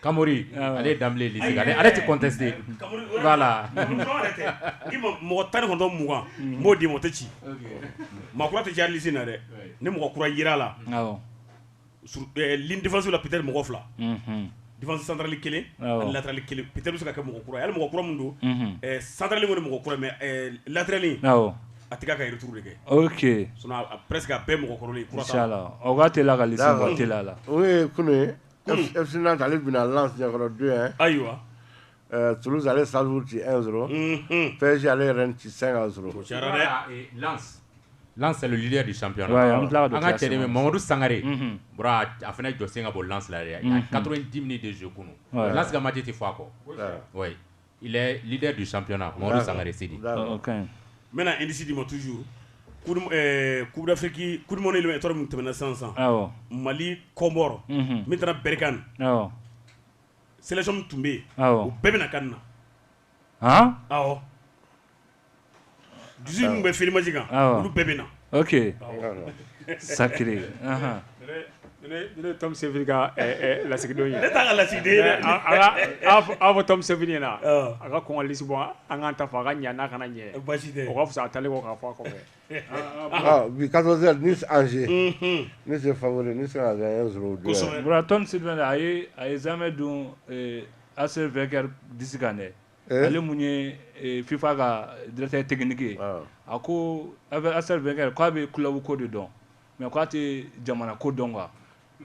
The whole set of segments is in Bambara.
Kamoru ale da ale tɛ contester voilà mɔgɔ tan ni kɔnɔntɔn mugan n b'o d'i ma o tɛ ci maa kura tɛ ci liste in na dɛ ni mɔgɔ kura yera la ligne défensive la peut-être mɔgɔ fila défense centrale kelen latéral kelen peut-être bɛ se ka kɛ mɔgɔ kura ye mɔgɔ kura min don centrale kɔni mɔgɔ kura latéral a tɛ k'a ka retour de kɛ presque a bɛɛ mɔgɔ kɔrɔlen la Fsina ale bɛna lakɔrɔ don yan ayiwa tsa ale sa ci e sɔrɔ psi ale yɛrɛ ci san sɔrɔ lasli de san cɛ mamadu sangare a fana jɔ sen ka bɔ lasilaya ka di de su kunun lama tɛ tɛ faa kɔ Il est leader du championnat Mamadu Sangare Sidi d'accord ok n bɛna indice d'i ma toujours coupe du ɛɛ coupe d'Afrique coupe du monde éliminatoire min tɛmɛna sisan sisan, awɔ, Mali Comores, unhun, min taara Berkane, awɔ, sélection min tun bɛ yen, awɔ, u bɛɛ bɛna CAN in na, han, awɔ Dusu bɛ fmasi kan olu bɛɛ bɛ na sari ne tafe ka lasigidon ye ne taa ka lasigi aw fɔ tafe ɲɛna na a ka kɔnlisi bɔ an ka ta fɔ a ka ɲa n'a kana ɲɛ basi o fisa a taalen kɔ ka fɔ a kɔfɛ bi ka anse ne se fa ne se a ye a ye zanmɛ don a sen fɛ kɛra di kan dɛ ale mun ye FIFA ka directeur technique ye a ko Arsène Wenger k'a bɛ club ko de dɔn mais k'a tɛ jamana ko dɔn kan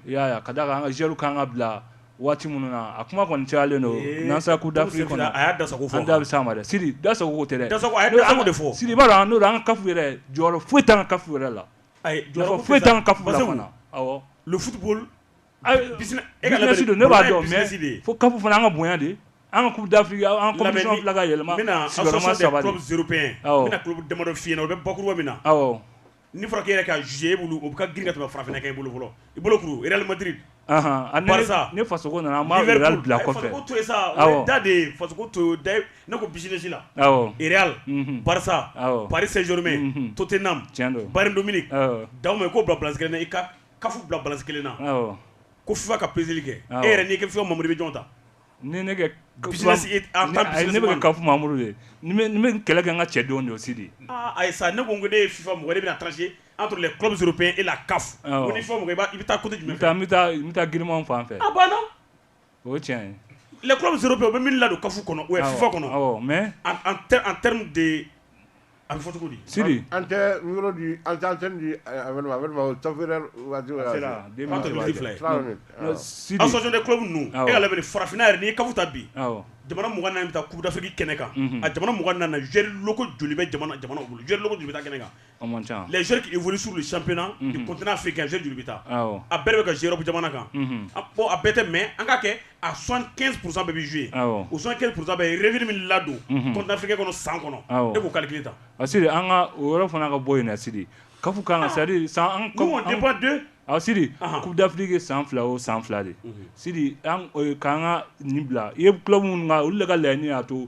i y'a ka da a kan an ka joueurw ka kan ka bila waati minnu na a kuma kɔni cayalen don n'an sera Coupe d'Afrique kɔnɔ an da bɛ s'a ma dɛ Sidi dasago de fɔ Sidi b'a dɔn o an ka CAF yɛrɛ jɔyɔrɔ foyi t'an ka CAF yɛrɛ la foyi t'an ka Bilisi don ne b'a dɔn mɛ fo kab fana an ka bonya de an ka da fili an ka yɛlɛma damadɔ fi o bɛ bakuruba min na ni fɔra yɛrɛ ka z e bolo u ka g ka fara kɛ i bolo fɔlɔ i bolo kulumadiri ne faso nana bila kɔfɛ da de faso to ne ko bisimilasi la pasa parizurumɛ tote na don da ko bilase i Ka bila bala kelen na ko fula ka psiri kɛ e yɛrɛ n'i fula mamadu bɛ jɔn ta ni ne ka mamudu ye kɛlɛ kɛ ka cɛ don don si de ayi sa ne ko ko ne ye fi mɔgɔ bɛna taa se a tun kɔmuso pe e la ka i bɛ taa jumɛn bɛ taa grin fan fɛ o tiɲɛ les clubs européens u bɛ min ladon CAF kɔnɔ ou bien FIFA kɔnɔ, awɔ, mais en terme de a bɛ fɔ cogo di, Sidi, an tɛ yɔrɔ di an tɛ antenne di association des clubs ninnu, awɔ, e k'a lajɛ bani farafinna yɛrɛ n'i ye CAF ta bi, awɔ, jamana 24 bɛ taa coupe d'Afrique kɛnɛ kan, unhun, a jamana 24 joueurs locaux joli bɛ jamana bolo joueurs locaux joli bɛ taa kɛnɛ kan lɛzururikiuru suur sanpna kotna fɛ ganzse juru bɛ taa a bɛɛ bɛ ka z jamana kan a bɔ a bɛɛ tɛ mɛ an ka kɛ a sɔn kɛ psa bɛ zuye u sɔn kɛ psasa yɛrɛfri min ladon kɔntanfekɛ kɔnɔ san kɔnɔ e ko kali kelen ta a siri an ka o yɔrɔ fana ka bɔ yen siri ka fɔ ka sari san a siri ku dafifilike san fila o san fila de siri k'an ka nin bila i ye kulo minnu olu la ka layiani'a to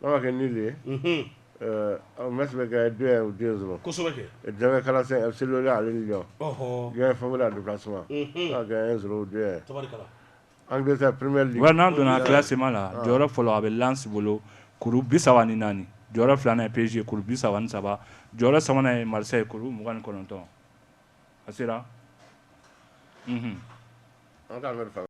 n'a ma kɛ nul de ye Metz bɛ gagner deux un ou deux zéro kosɛbɛkɛ kala se ale Lyon Lyon favori déplacement an bɛ peremeri n'an donna classement la jɔyɔrɔ fɔlɔ a bɛ Lens bolo kuru bi saba ni naani jɔyɔrɔ filanan ye PSG kuru bi saba ni saba jɔyɔrɔ sabanan ye Marseille kuru mugan ni kɔnɔntɔn a sera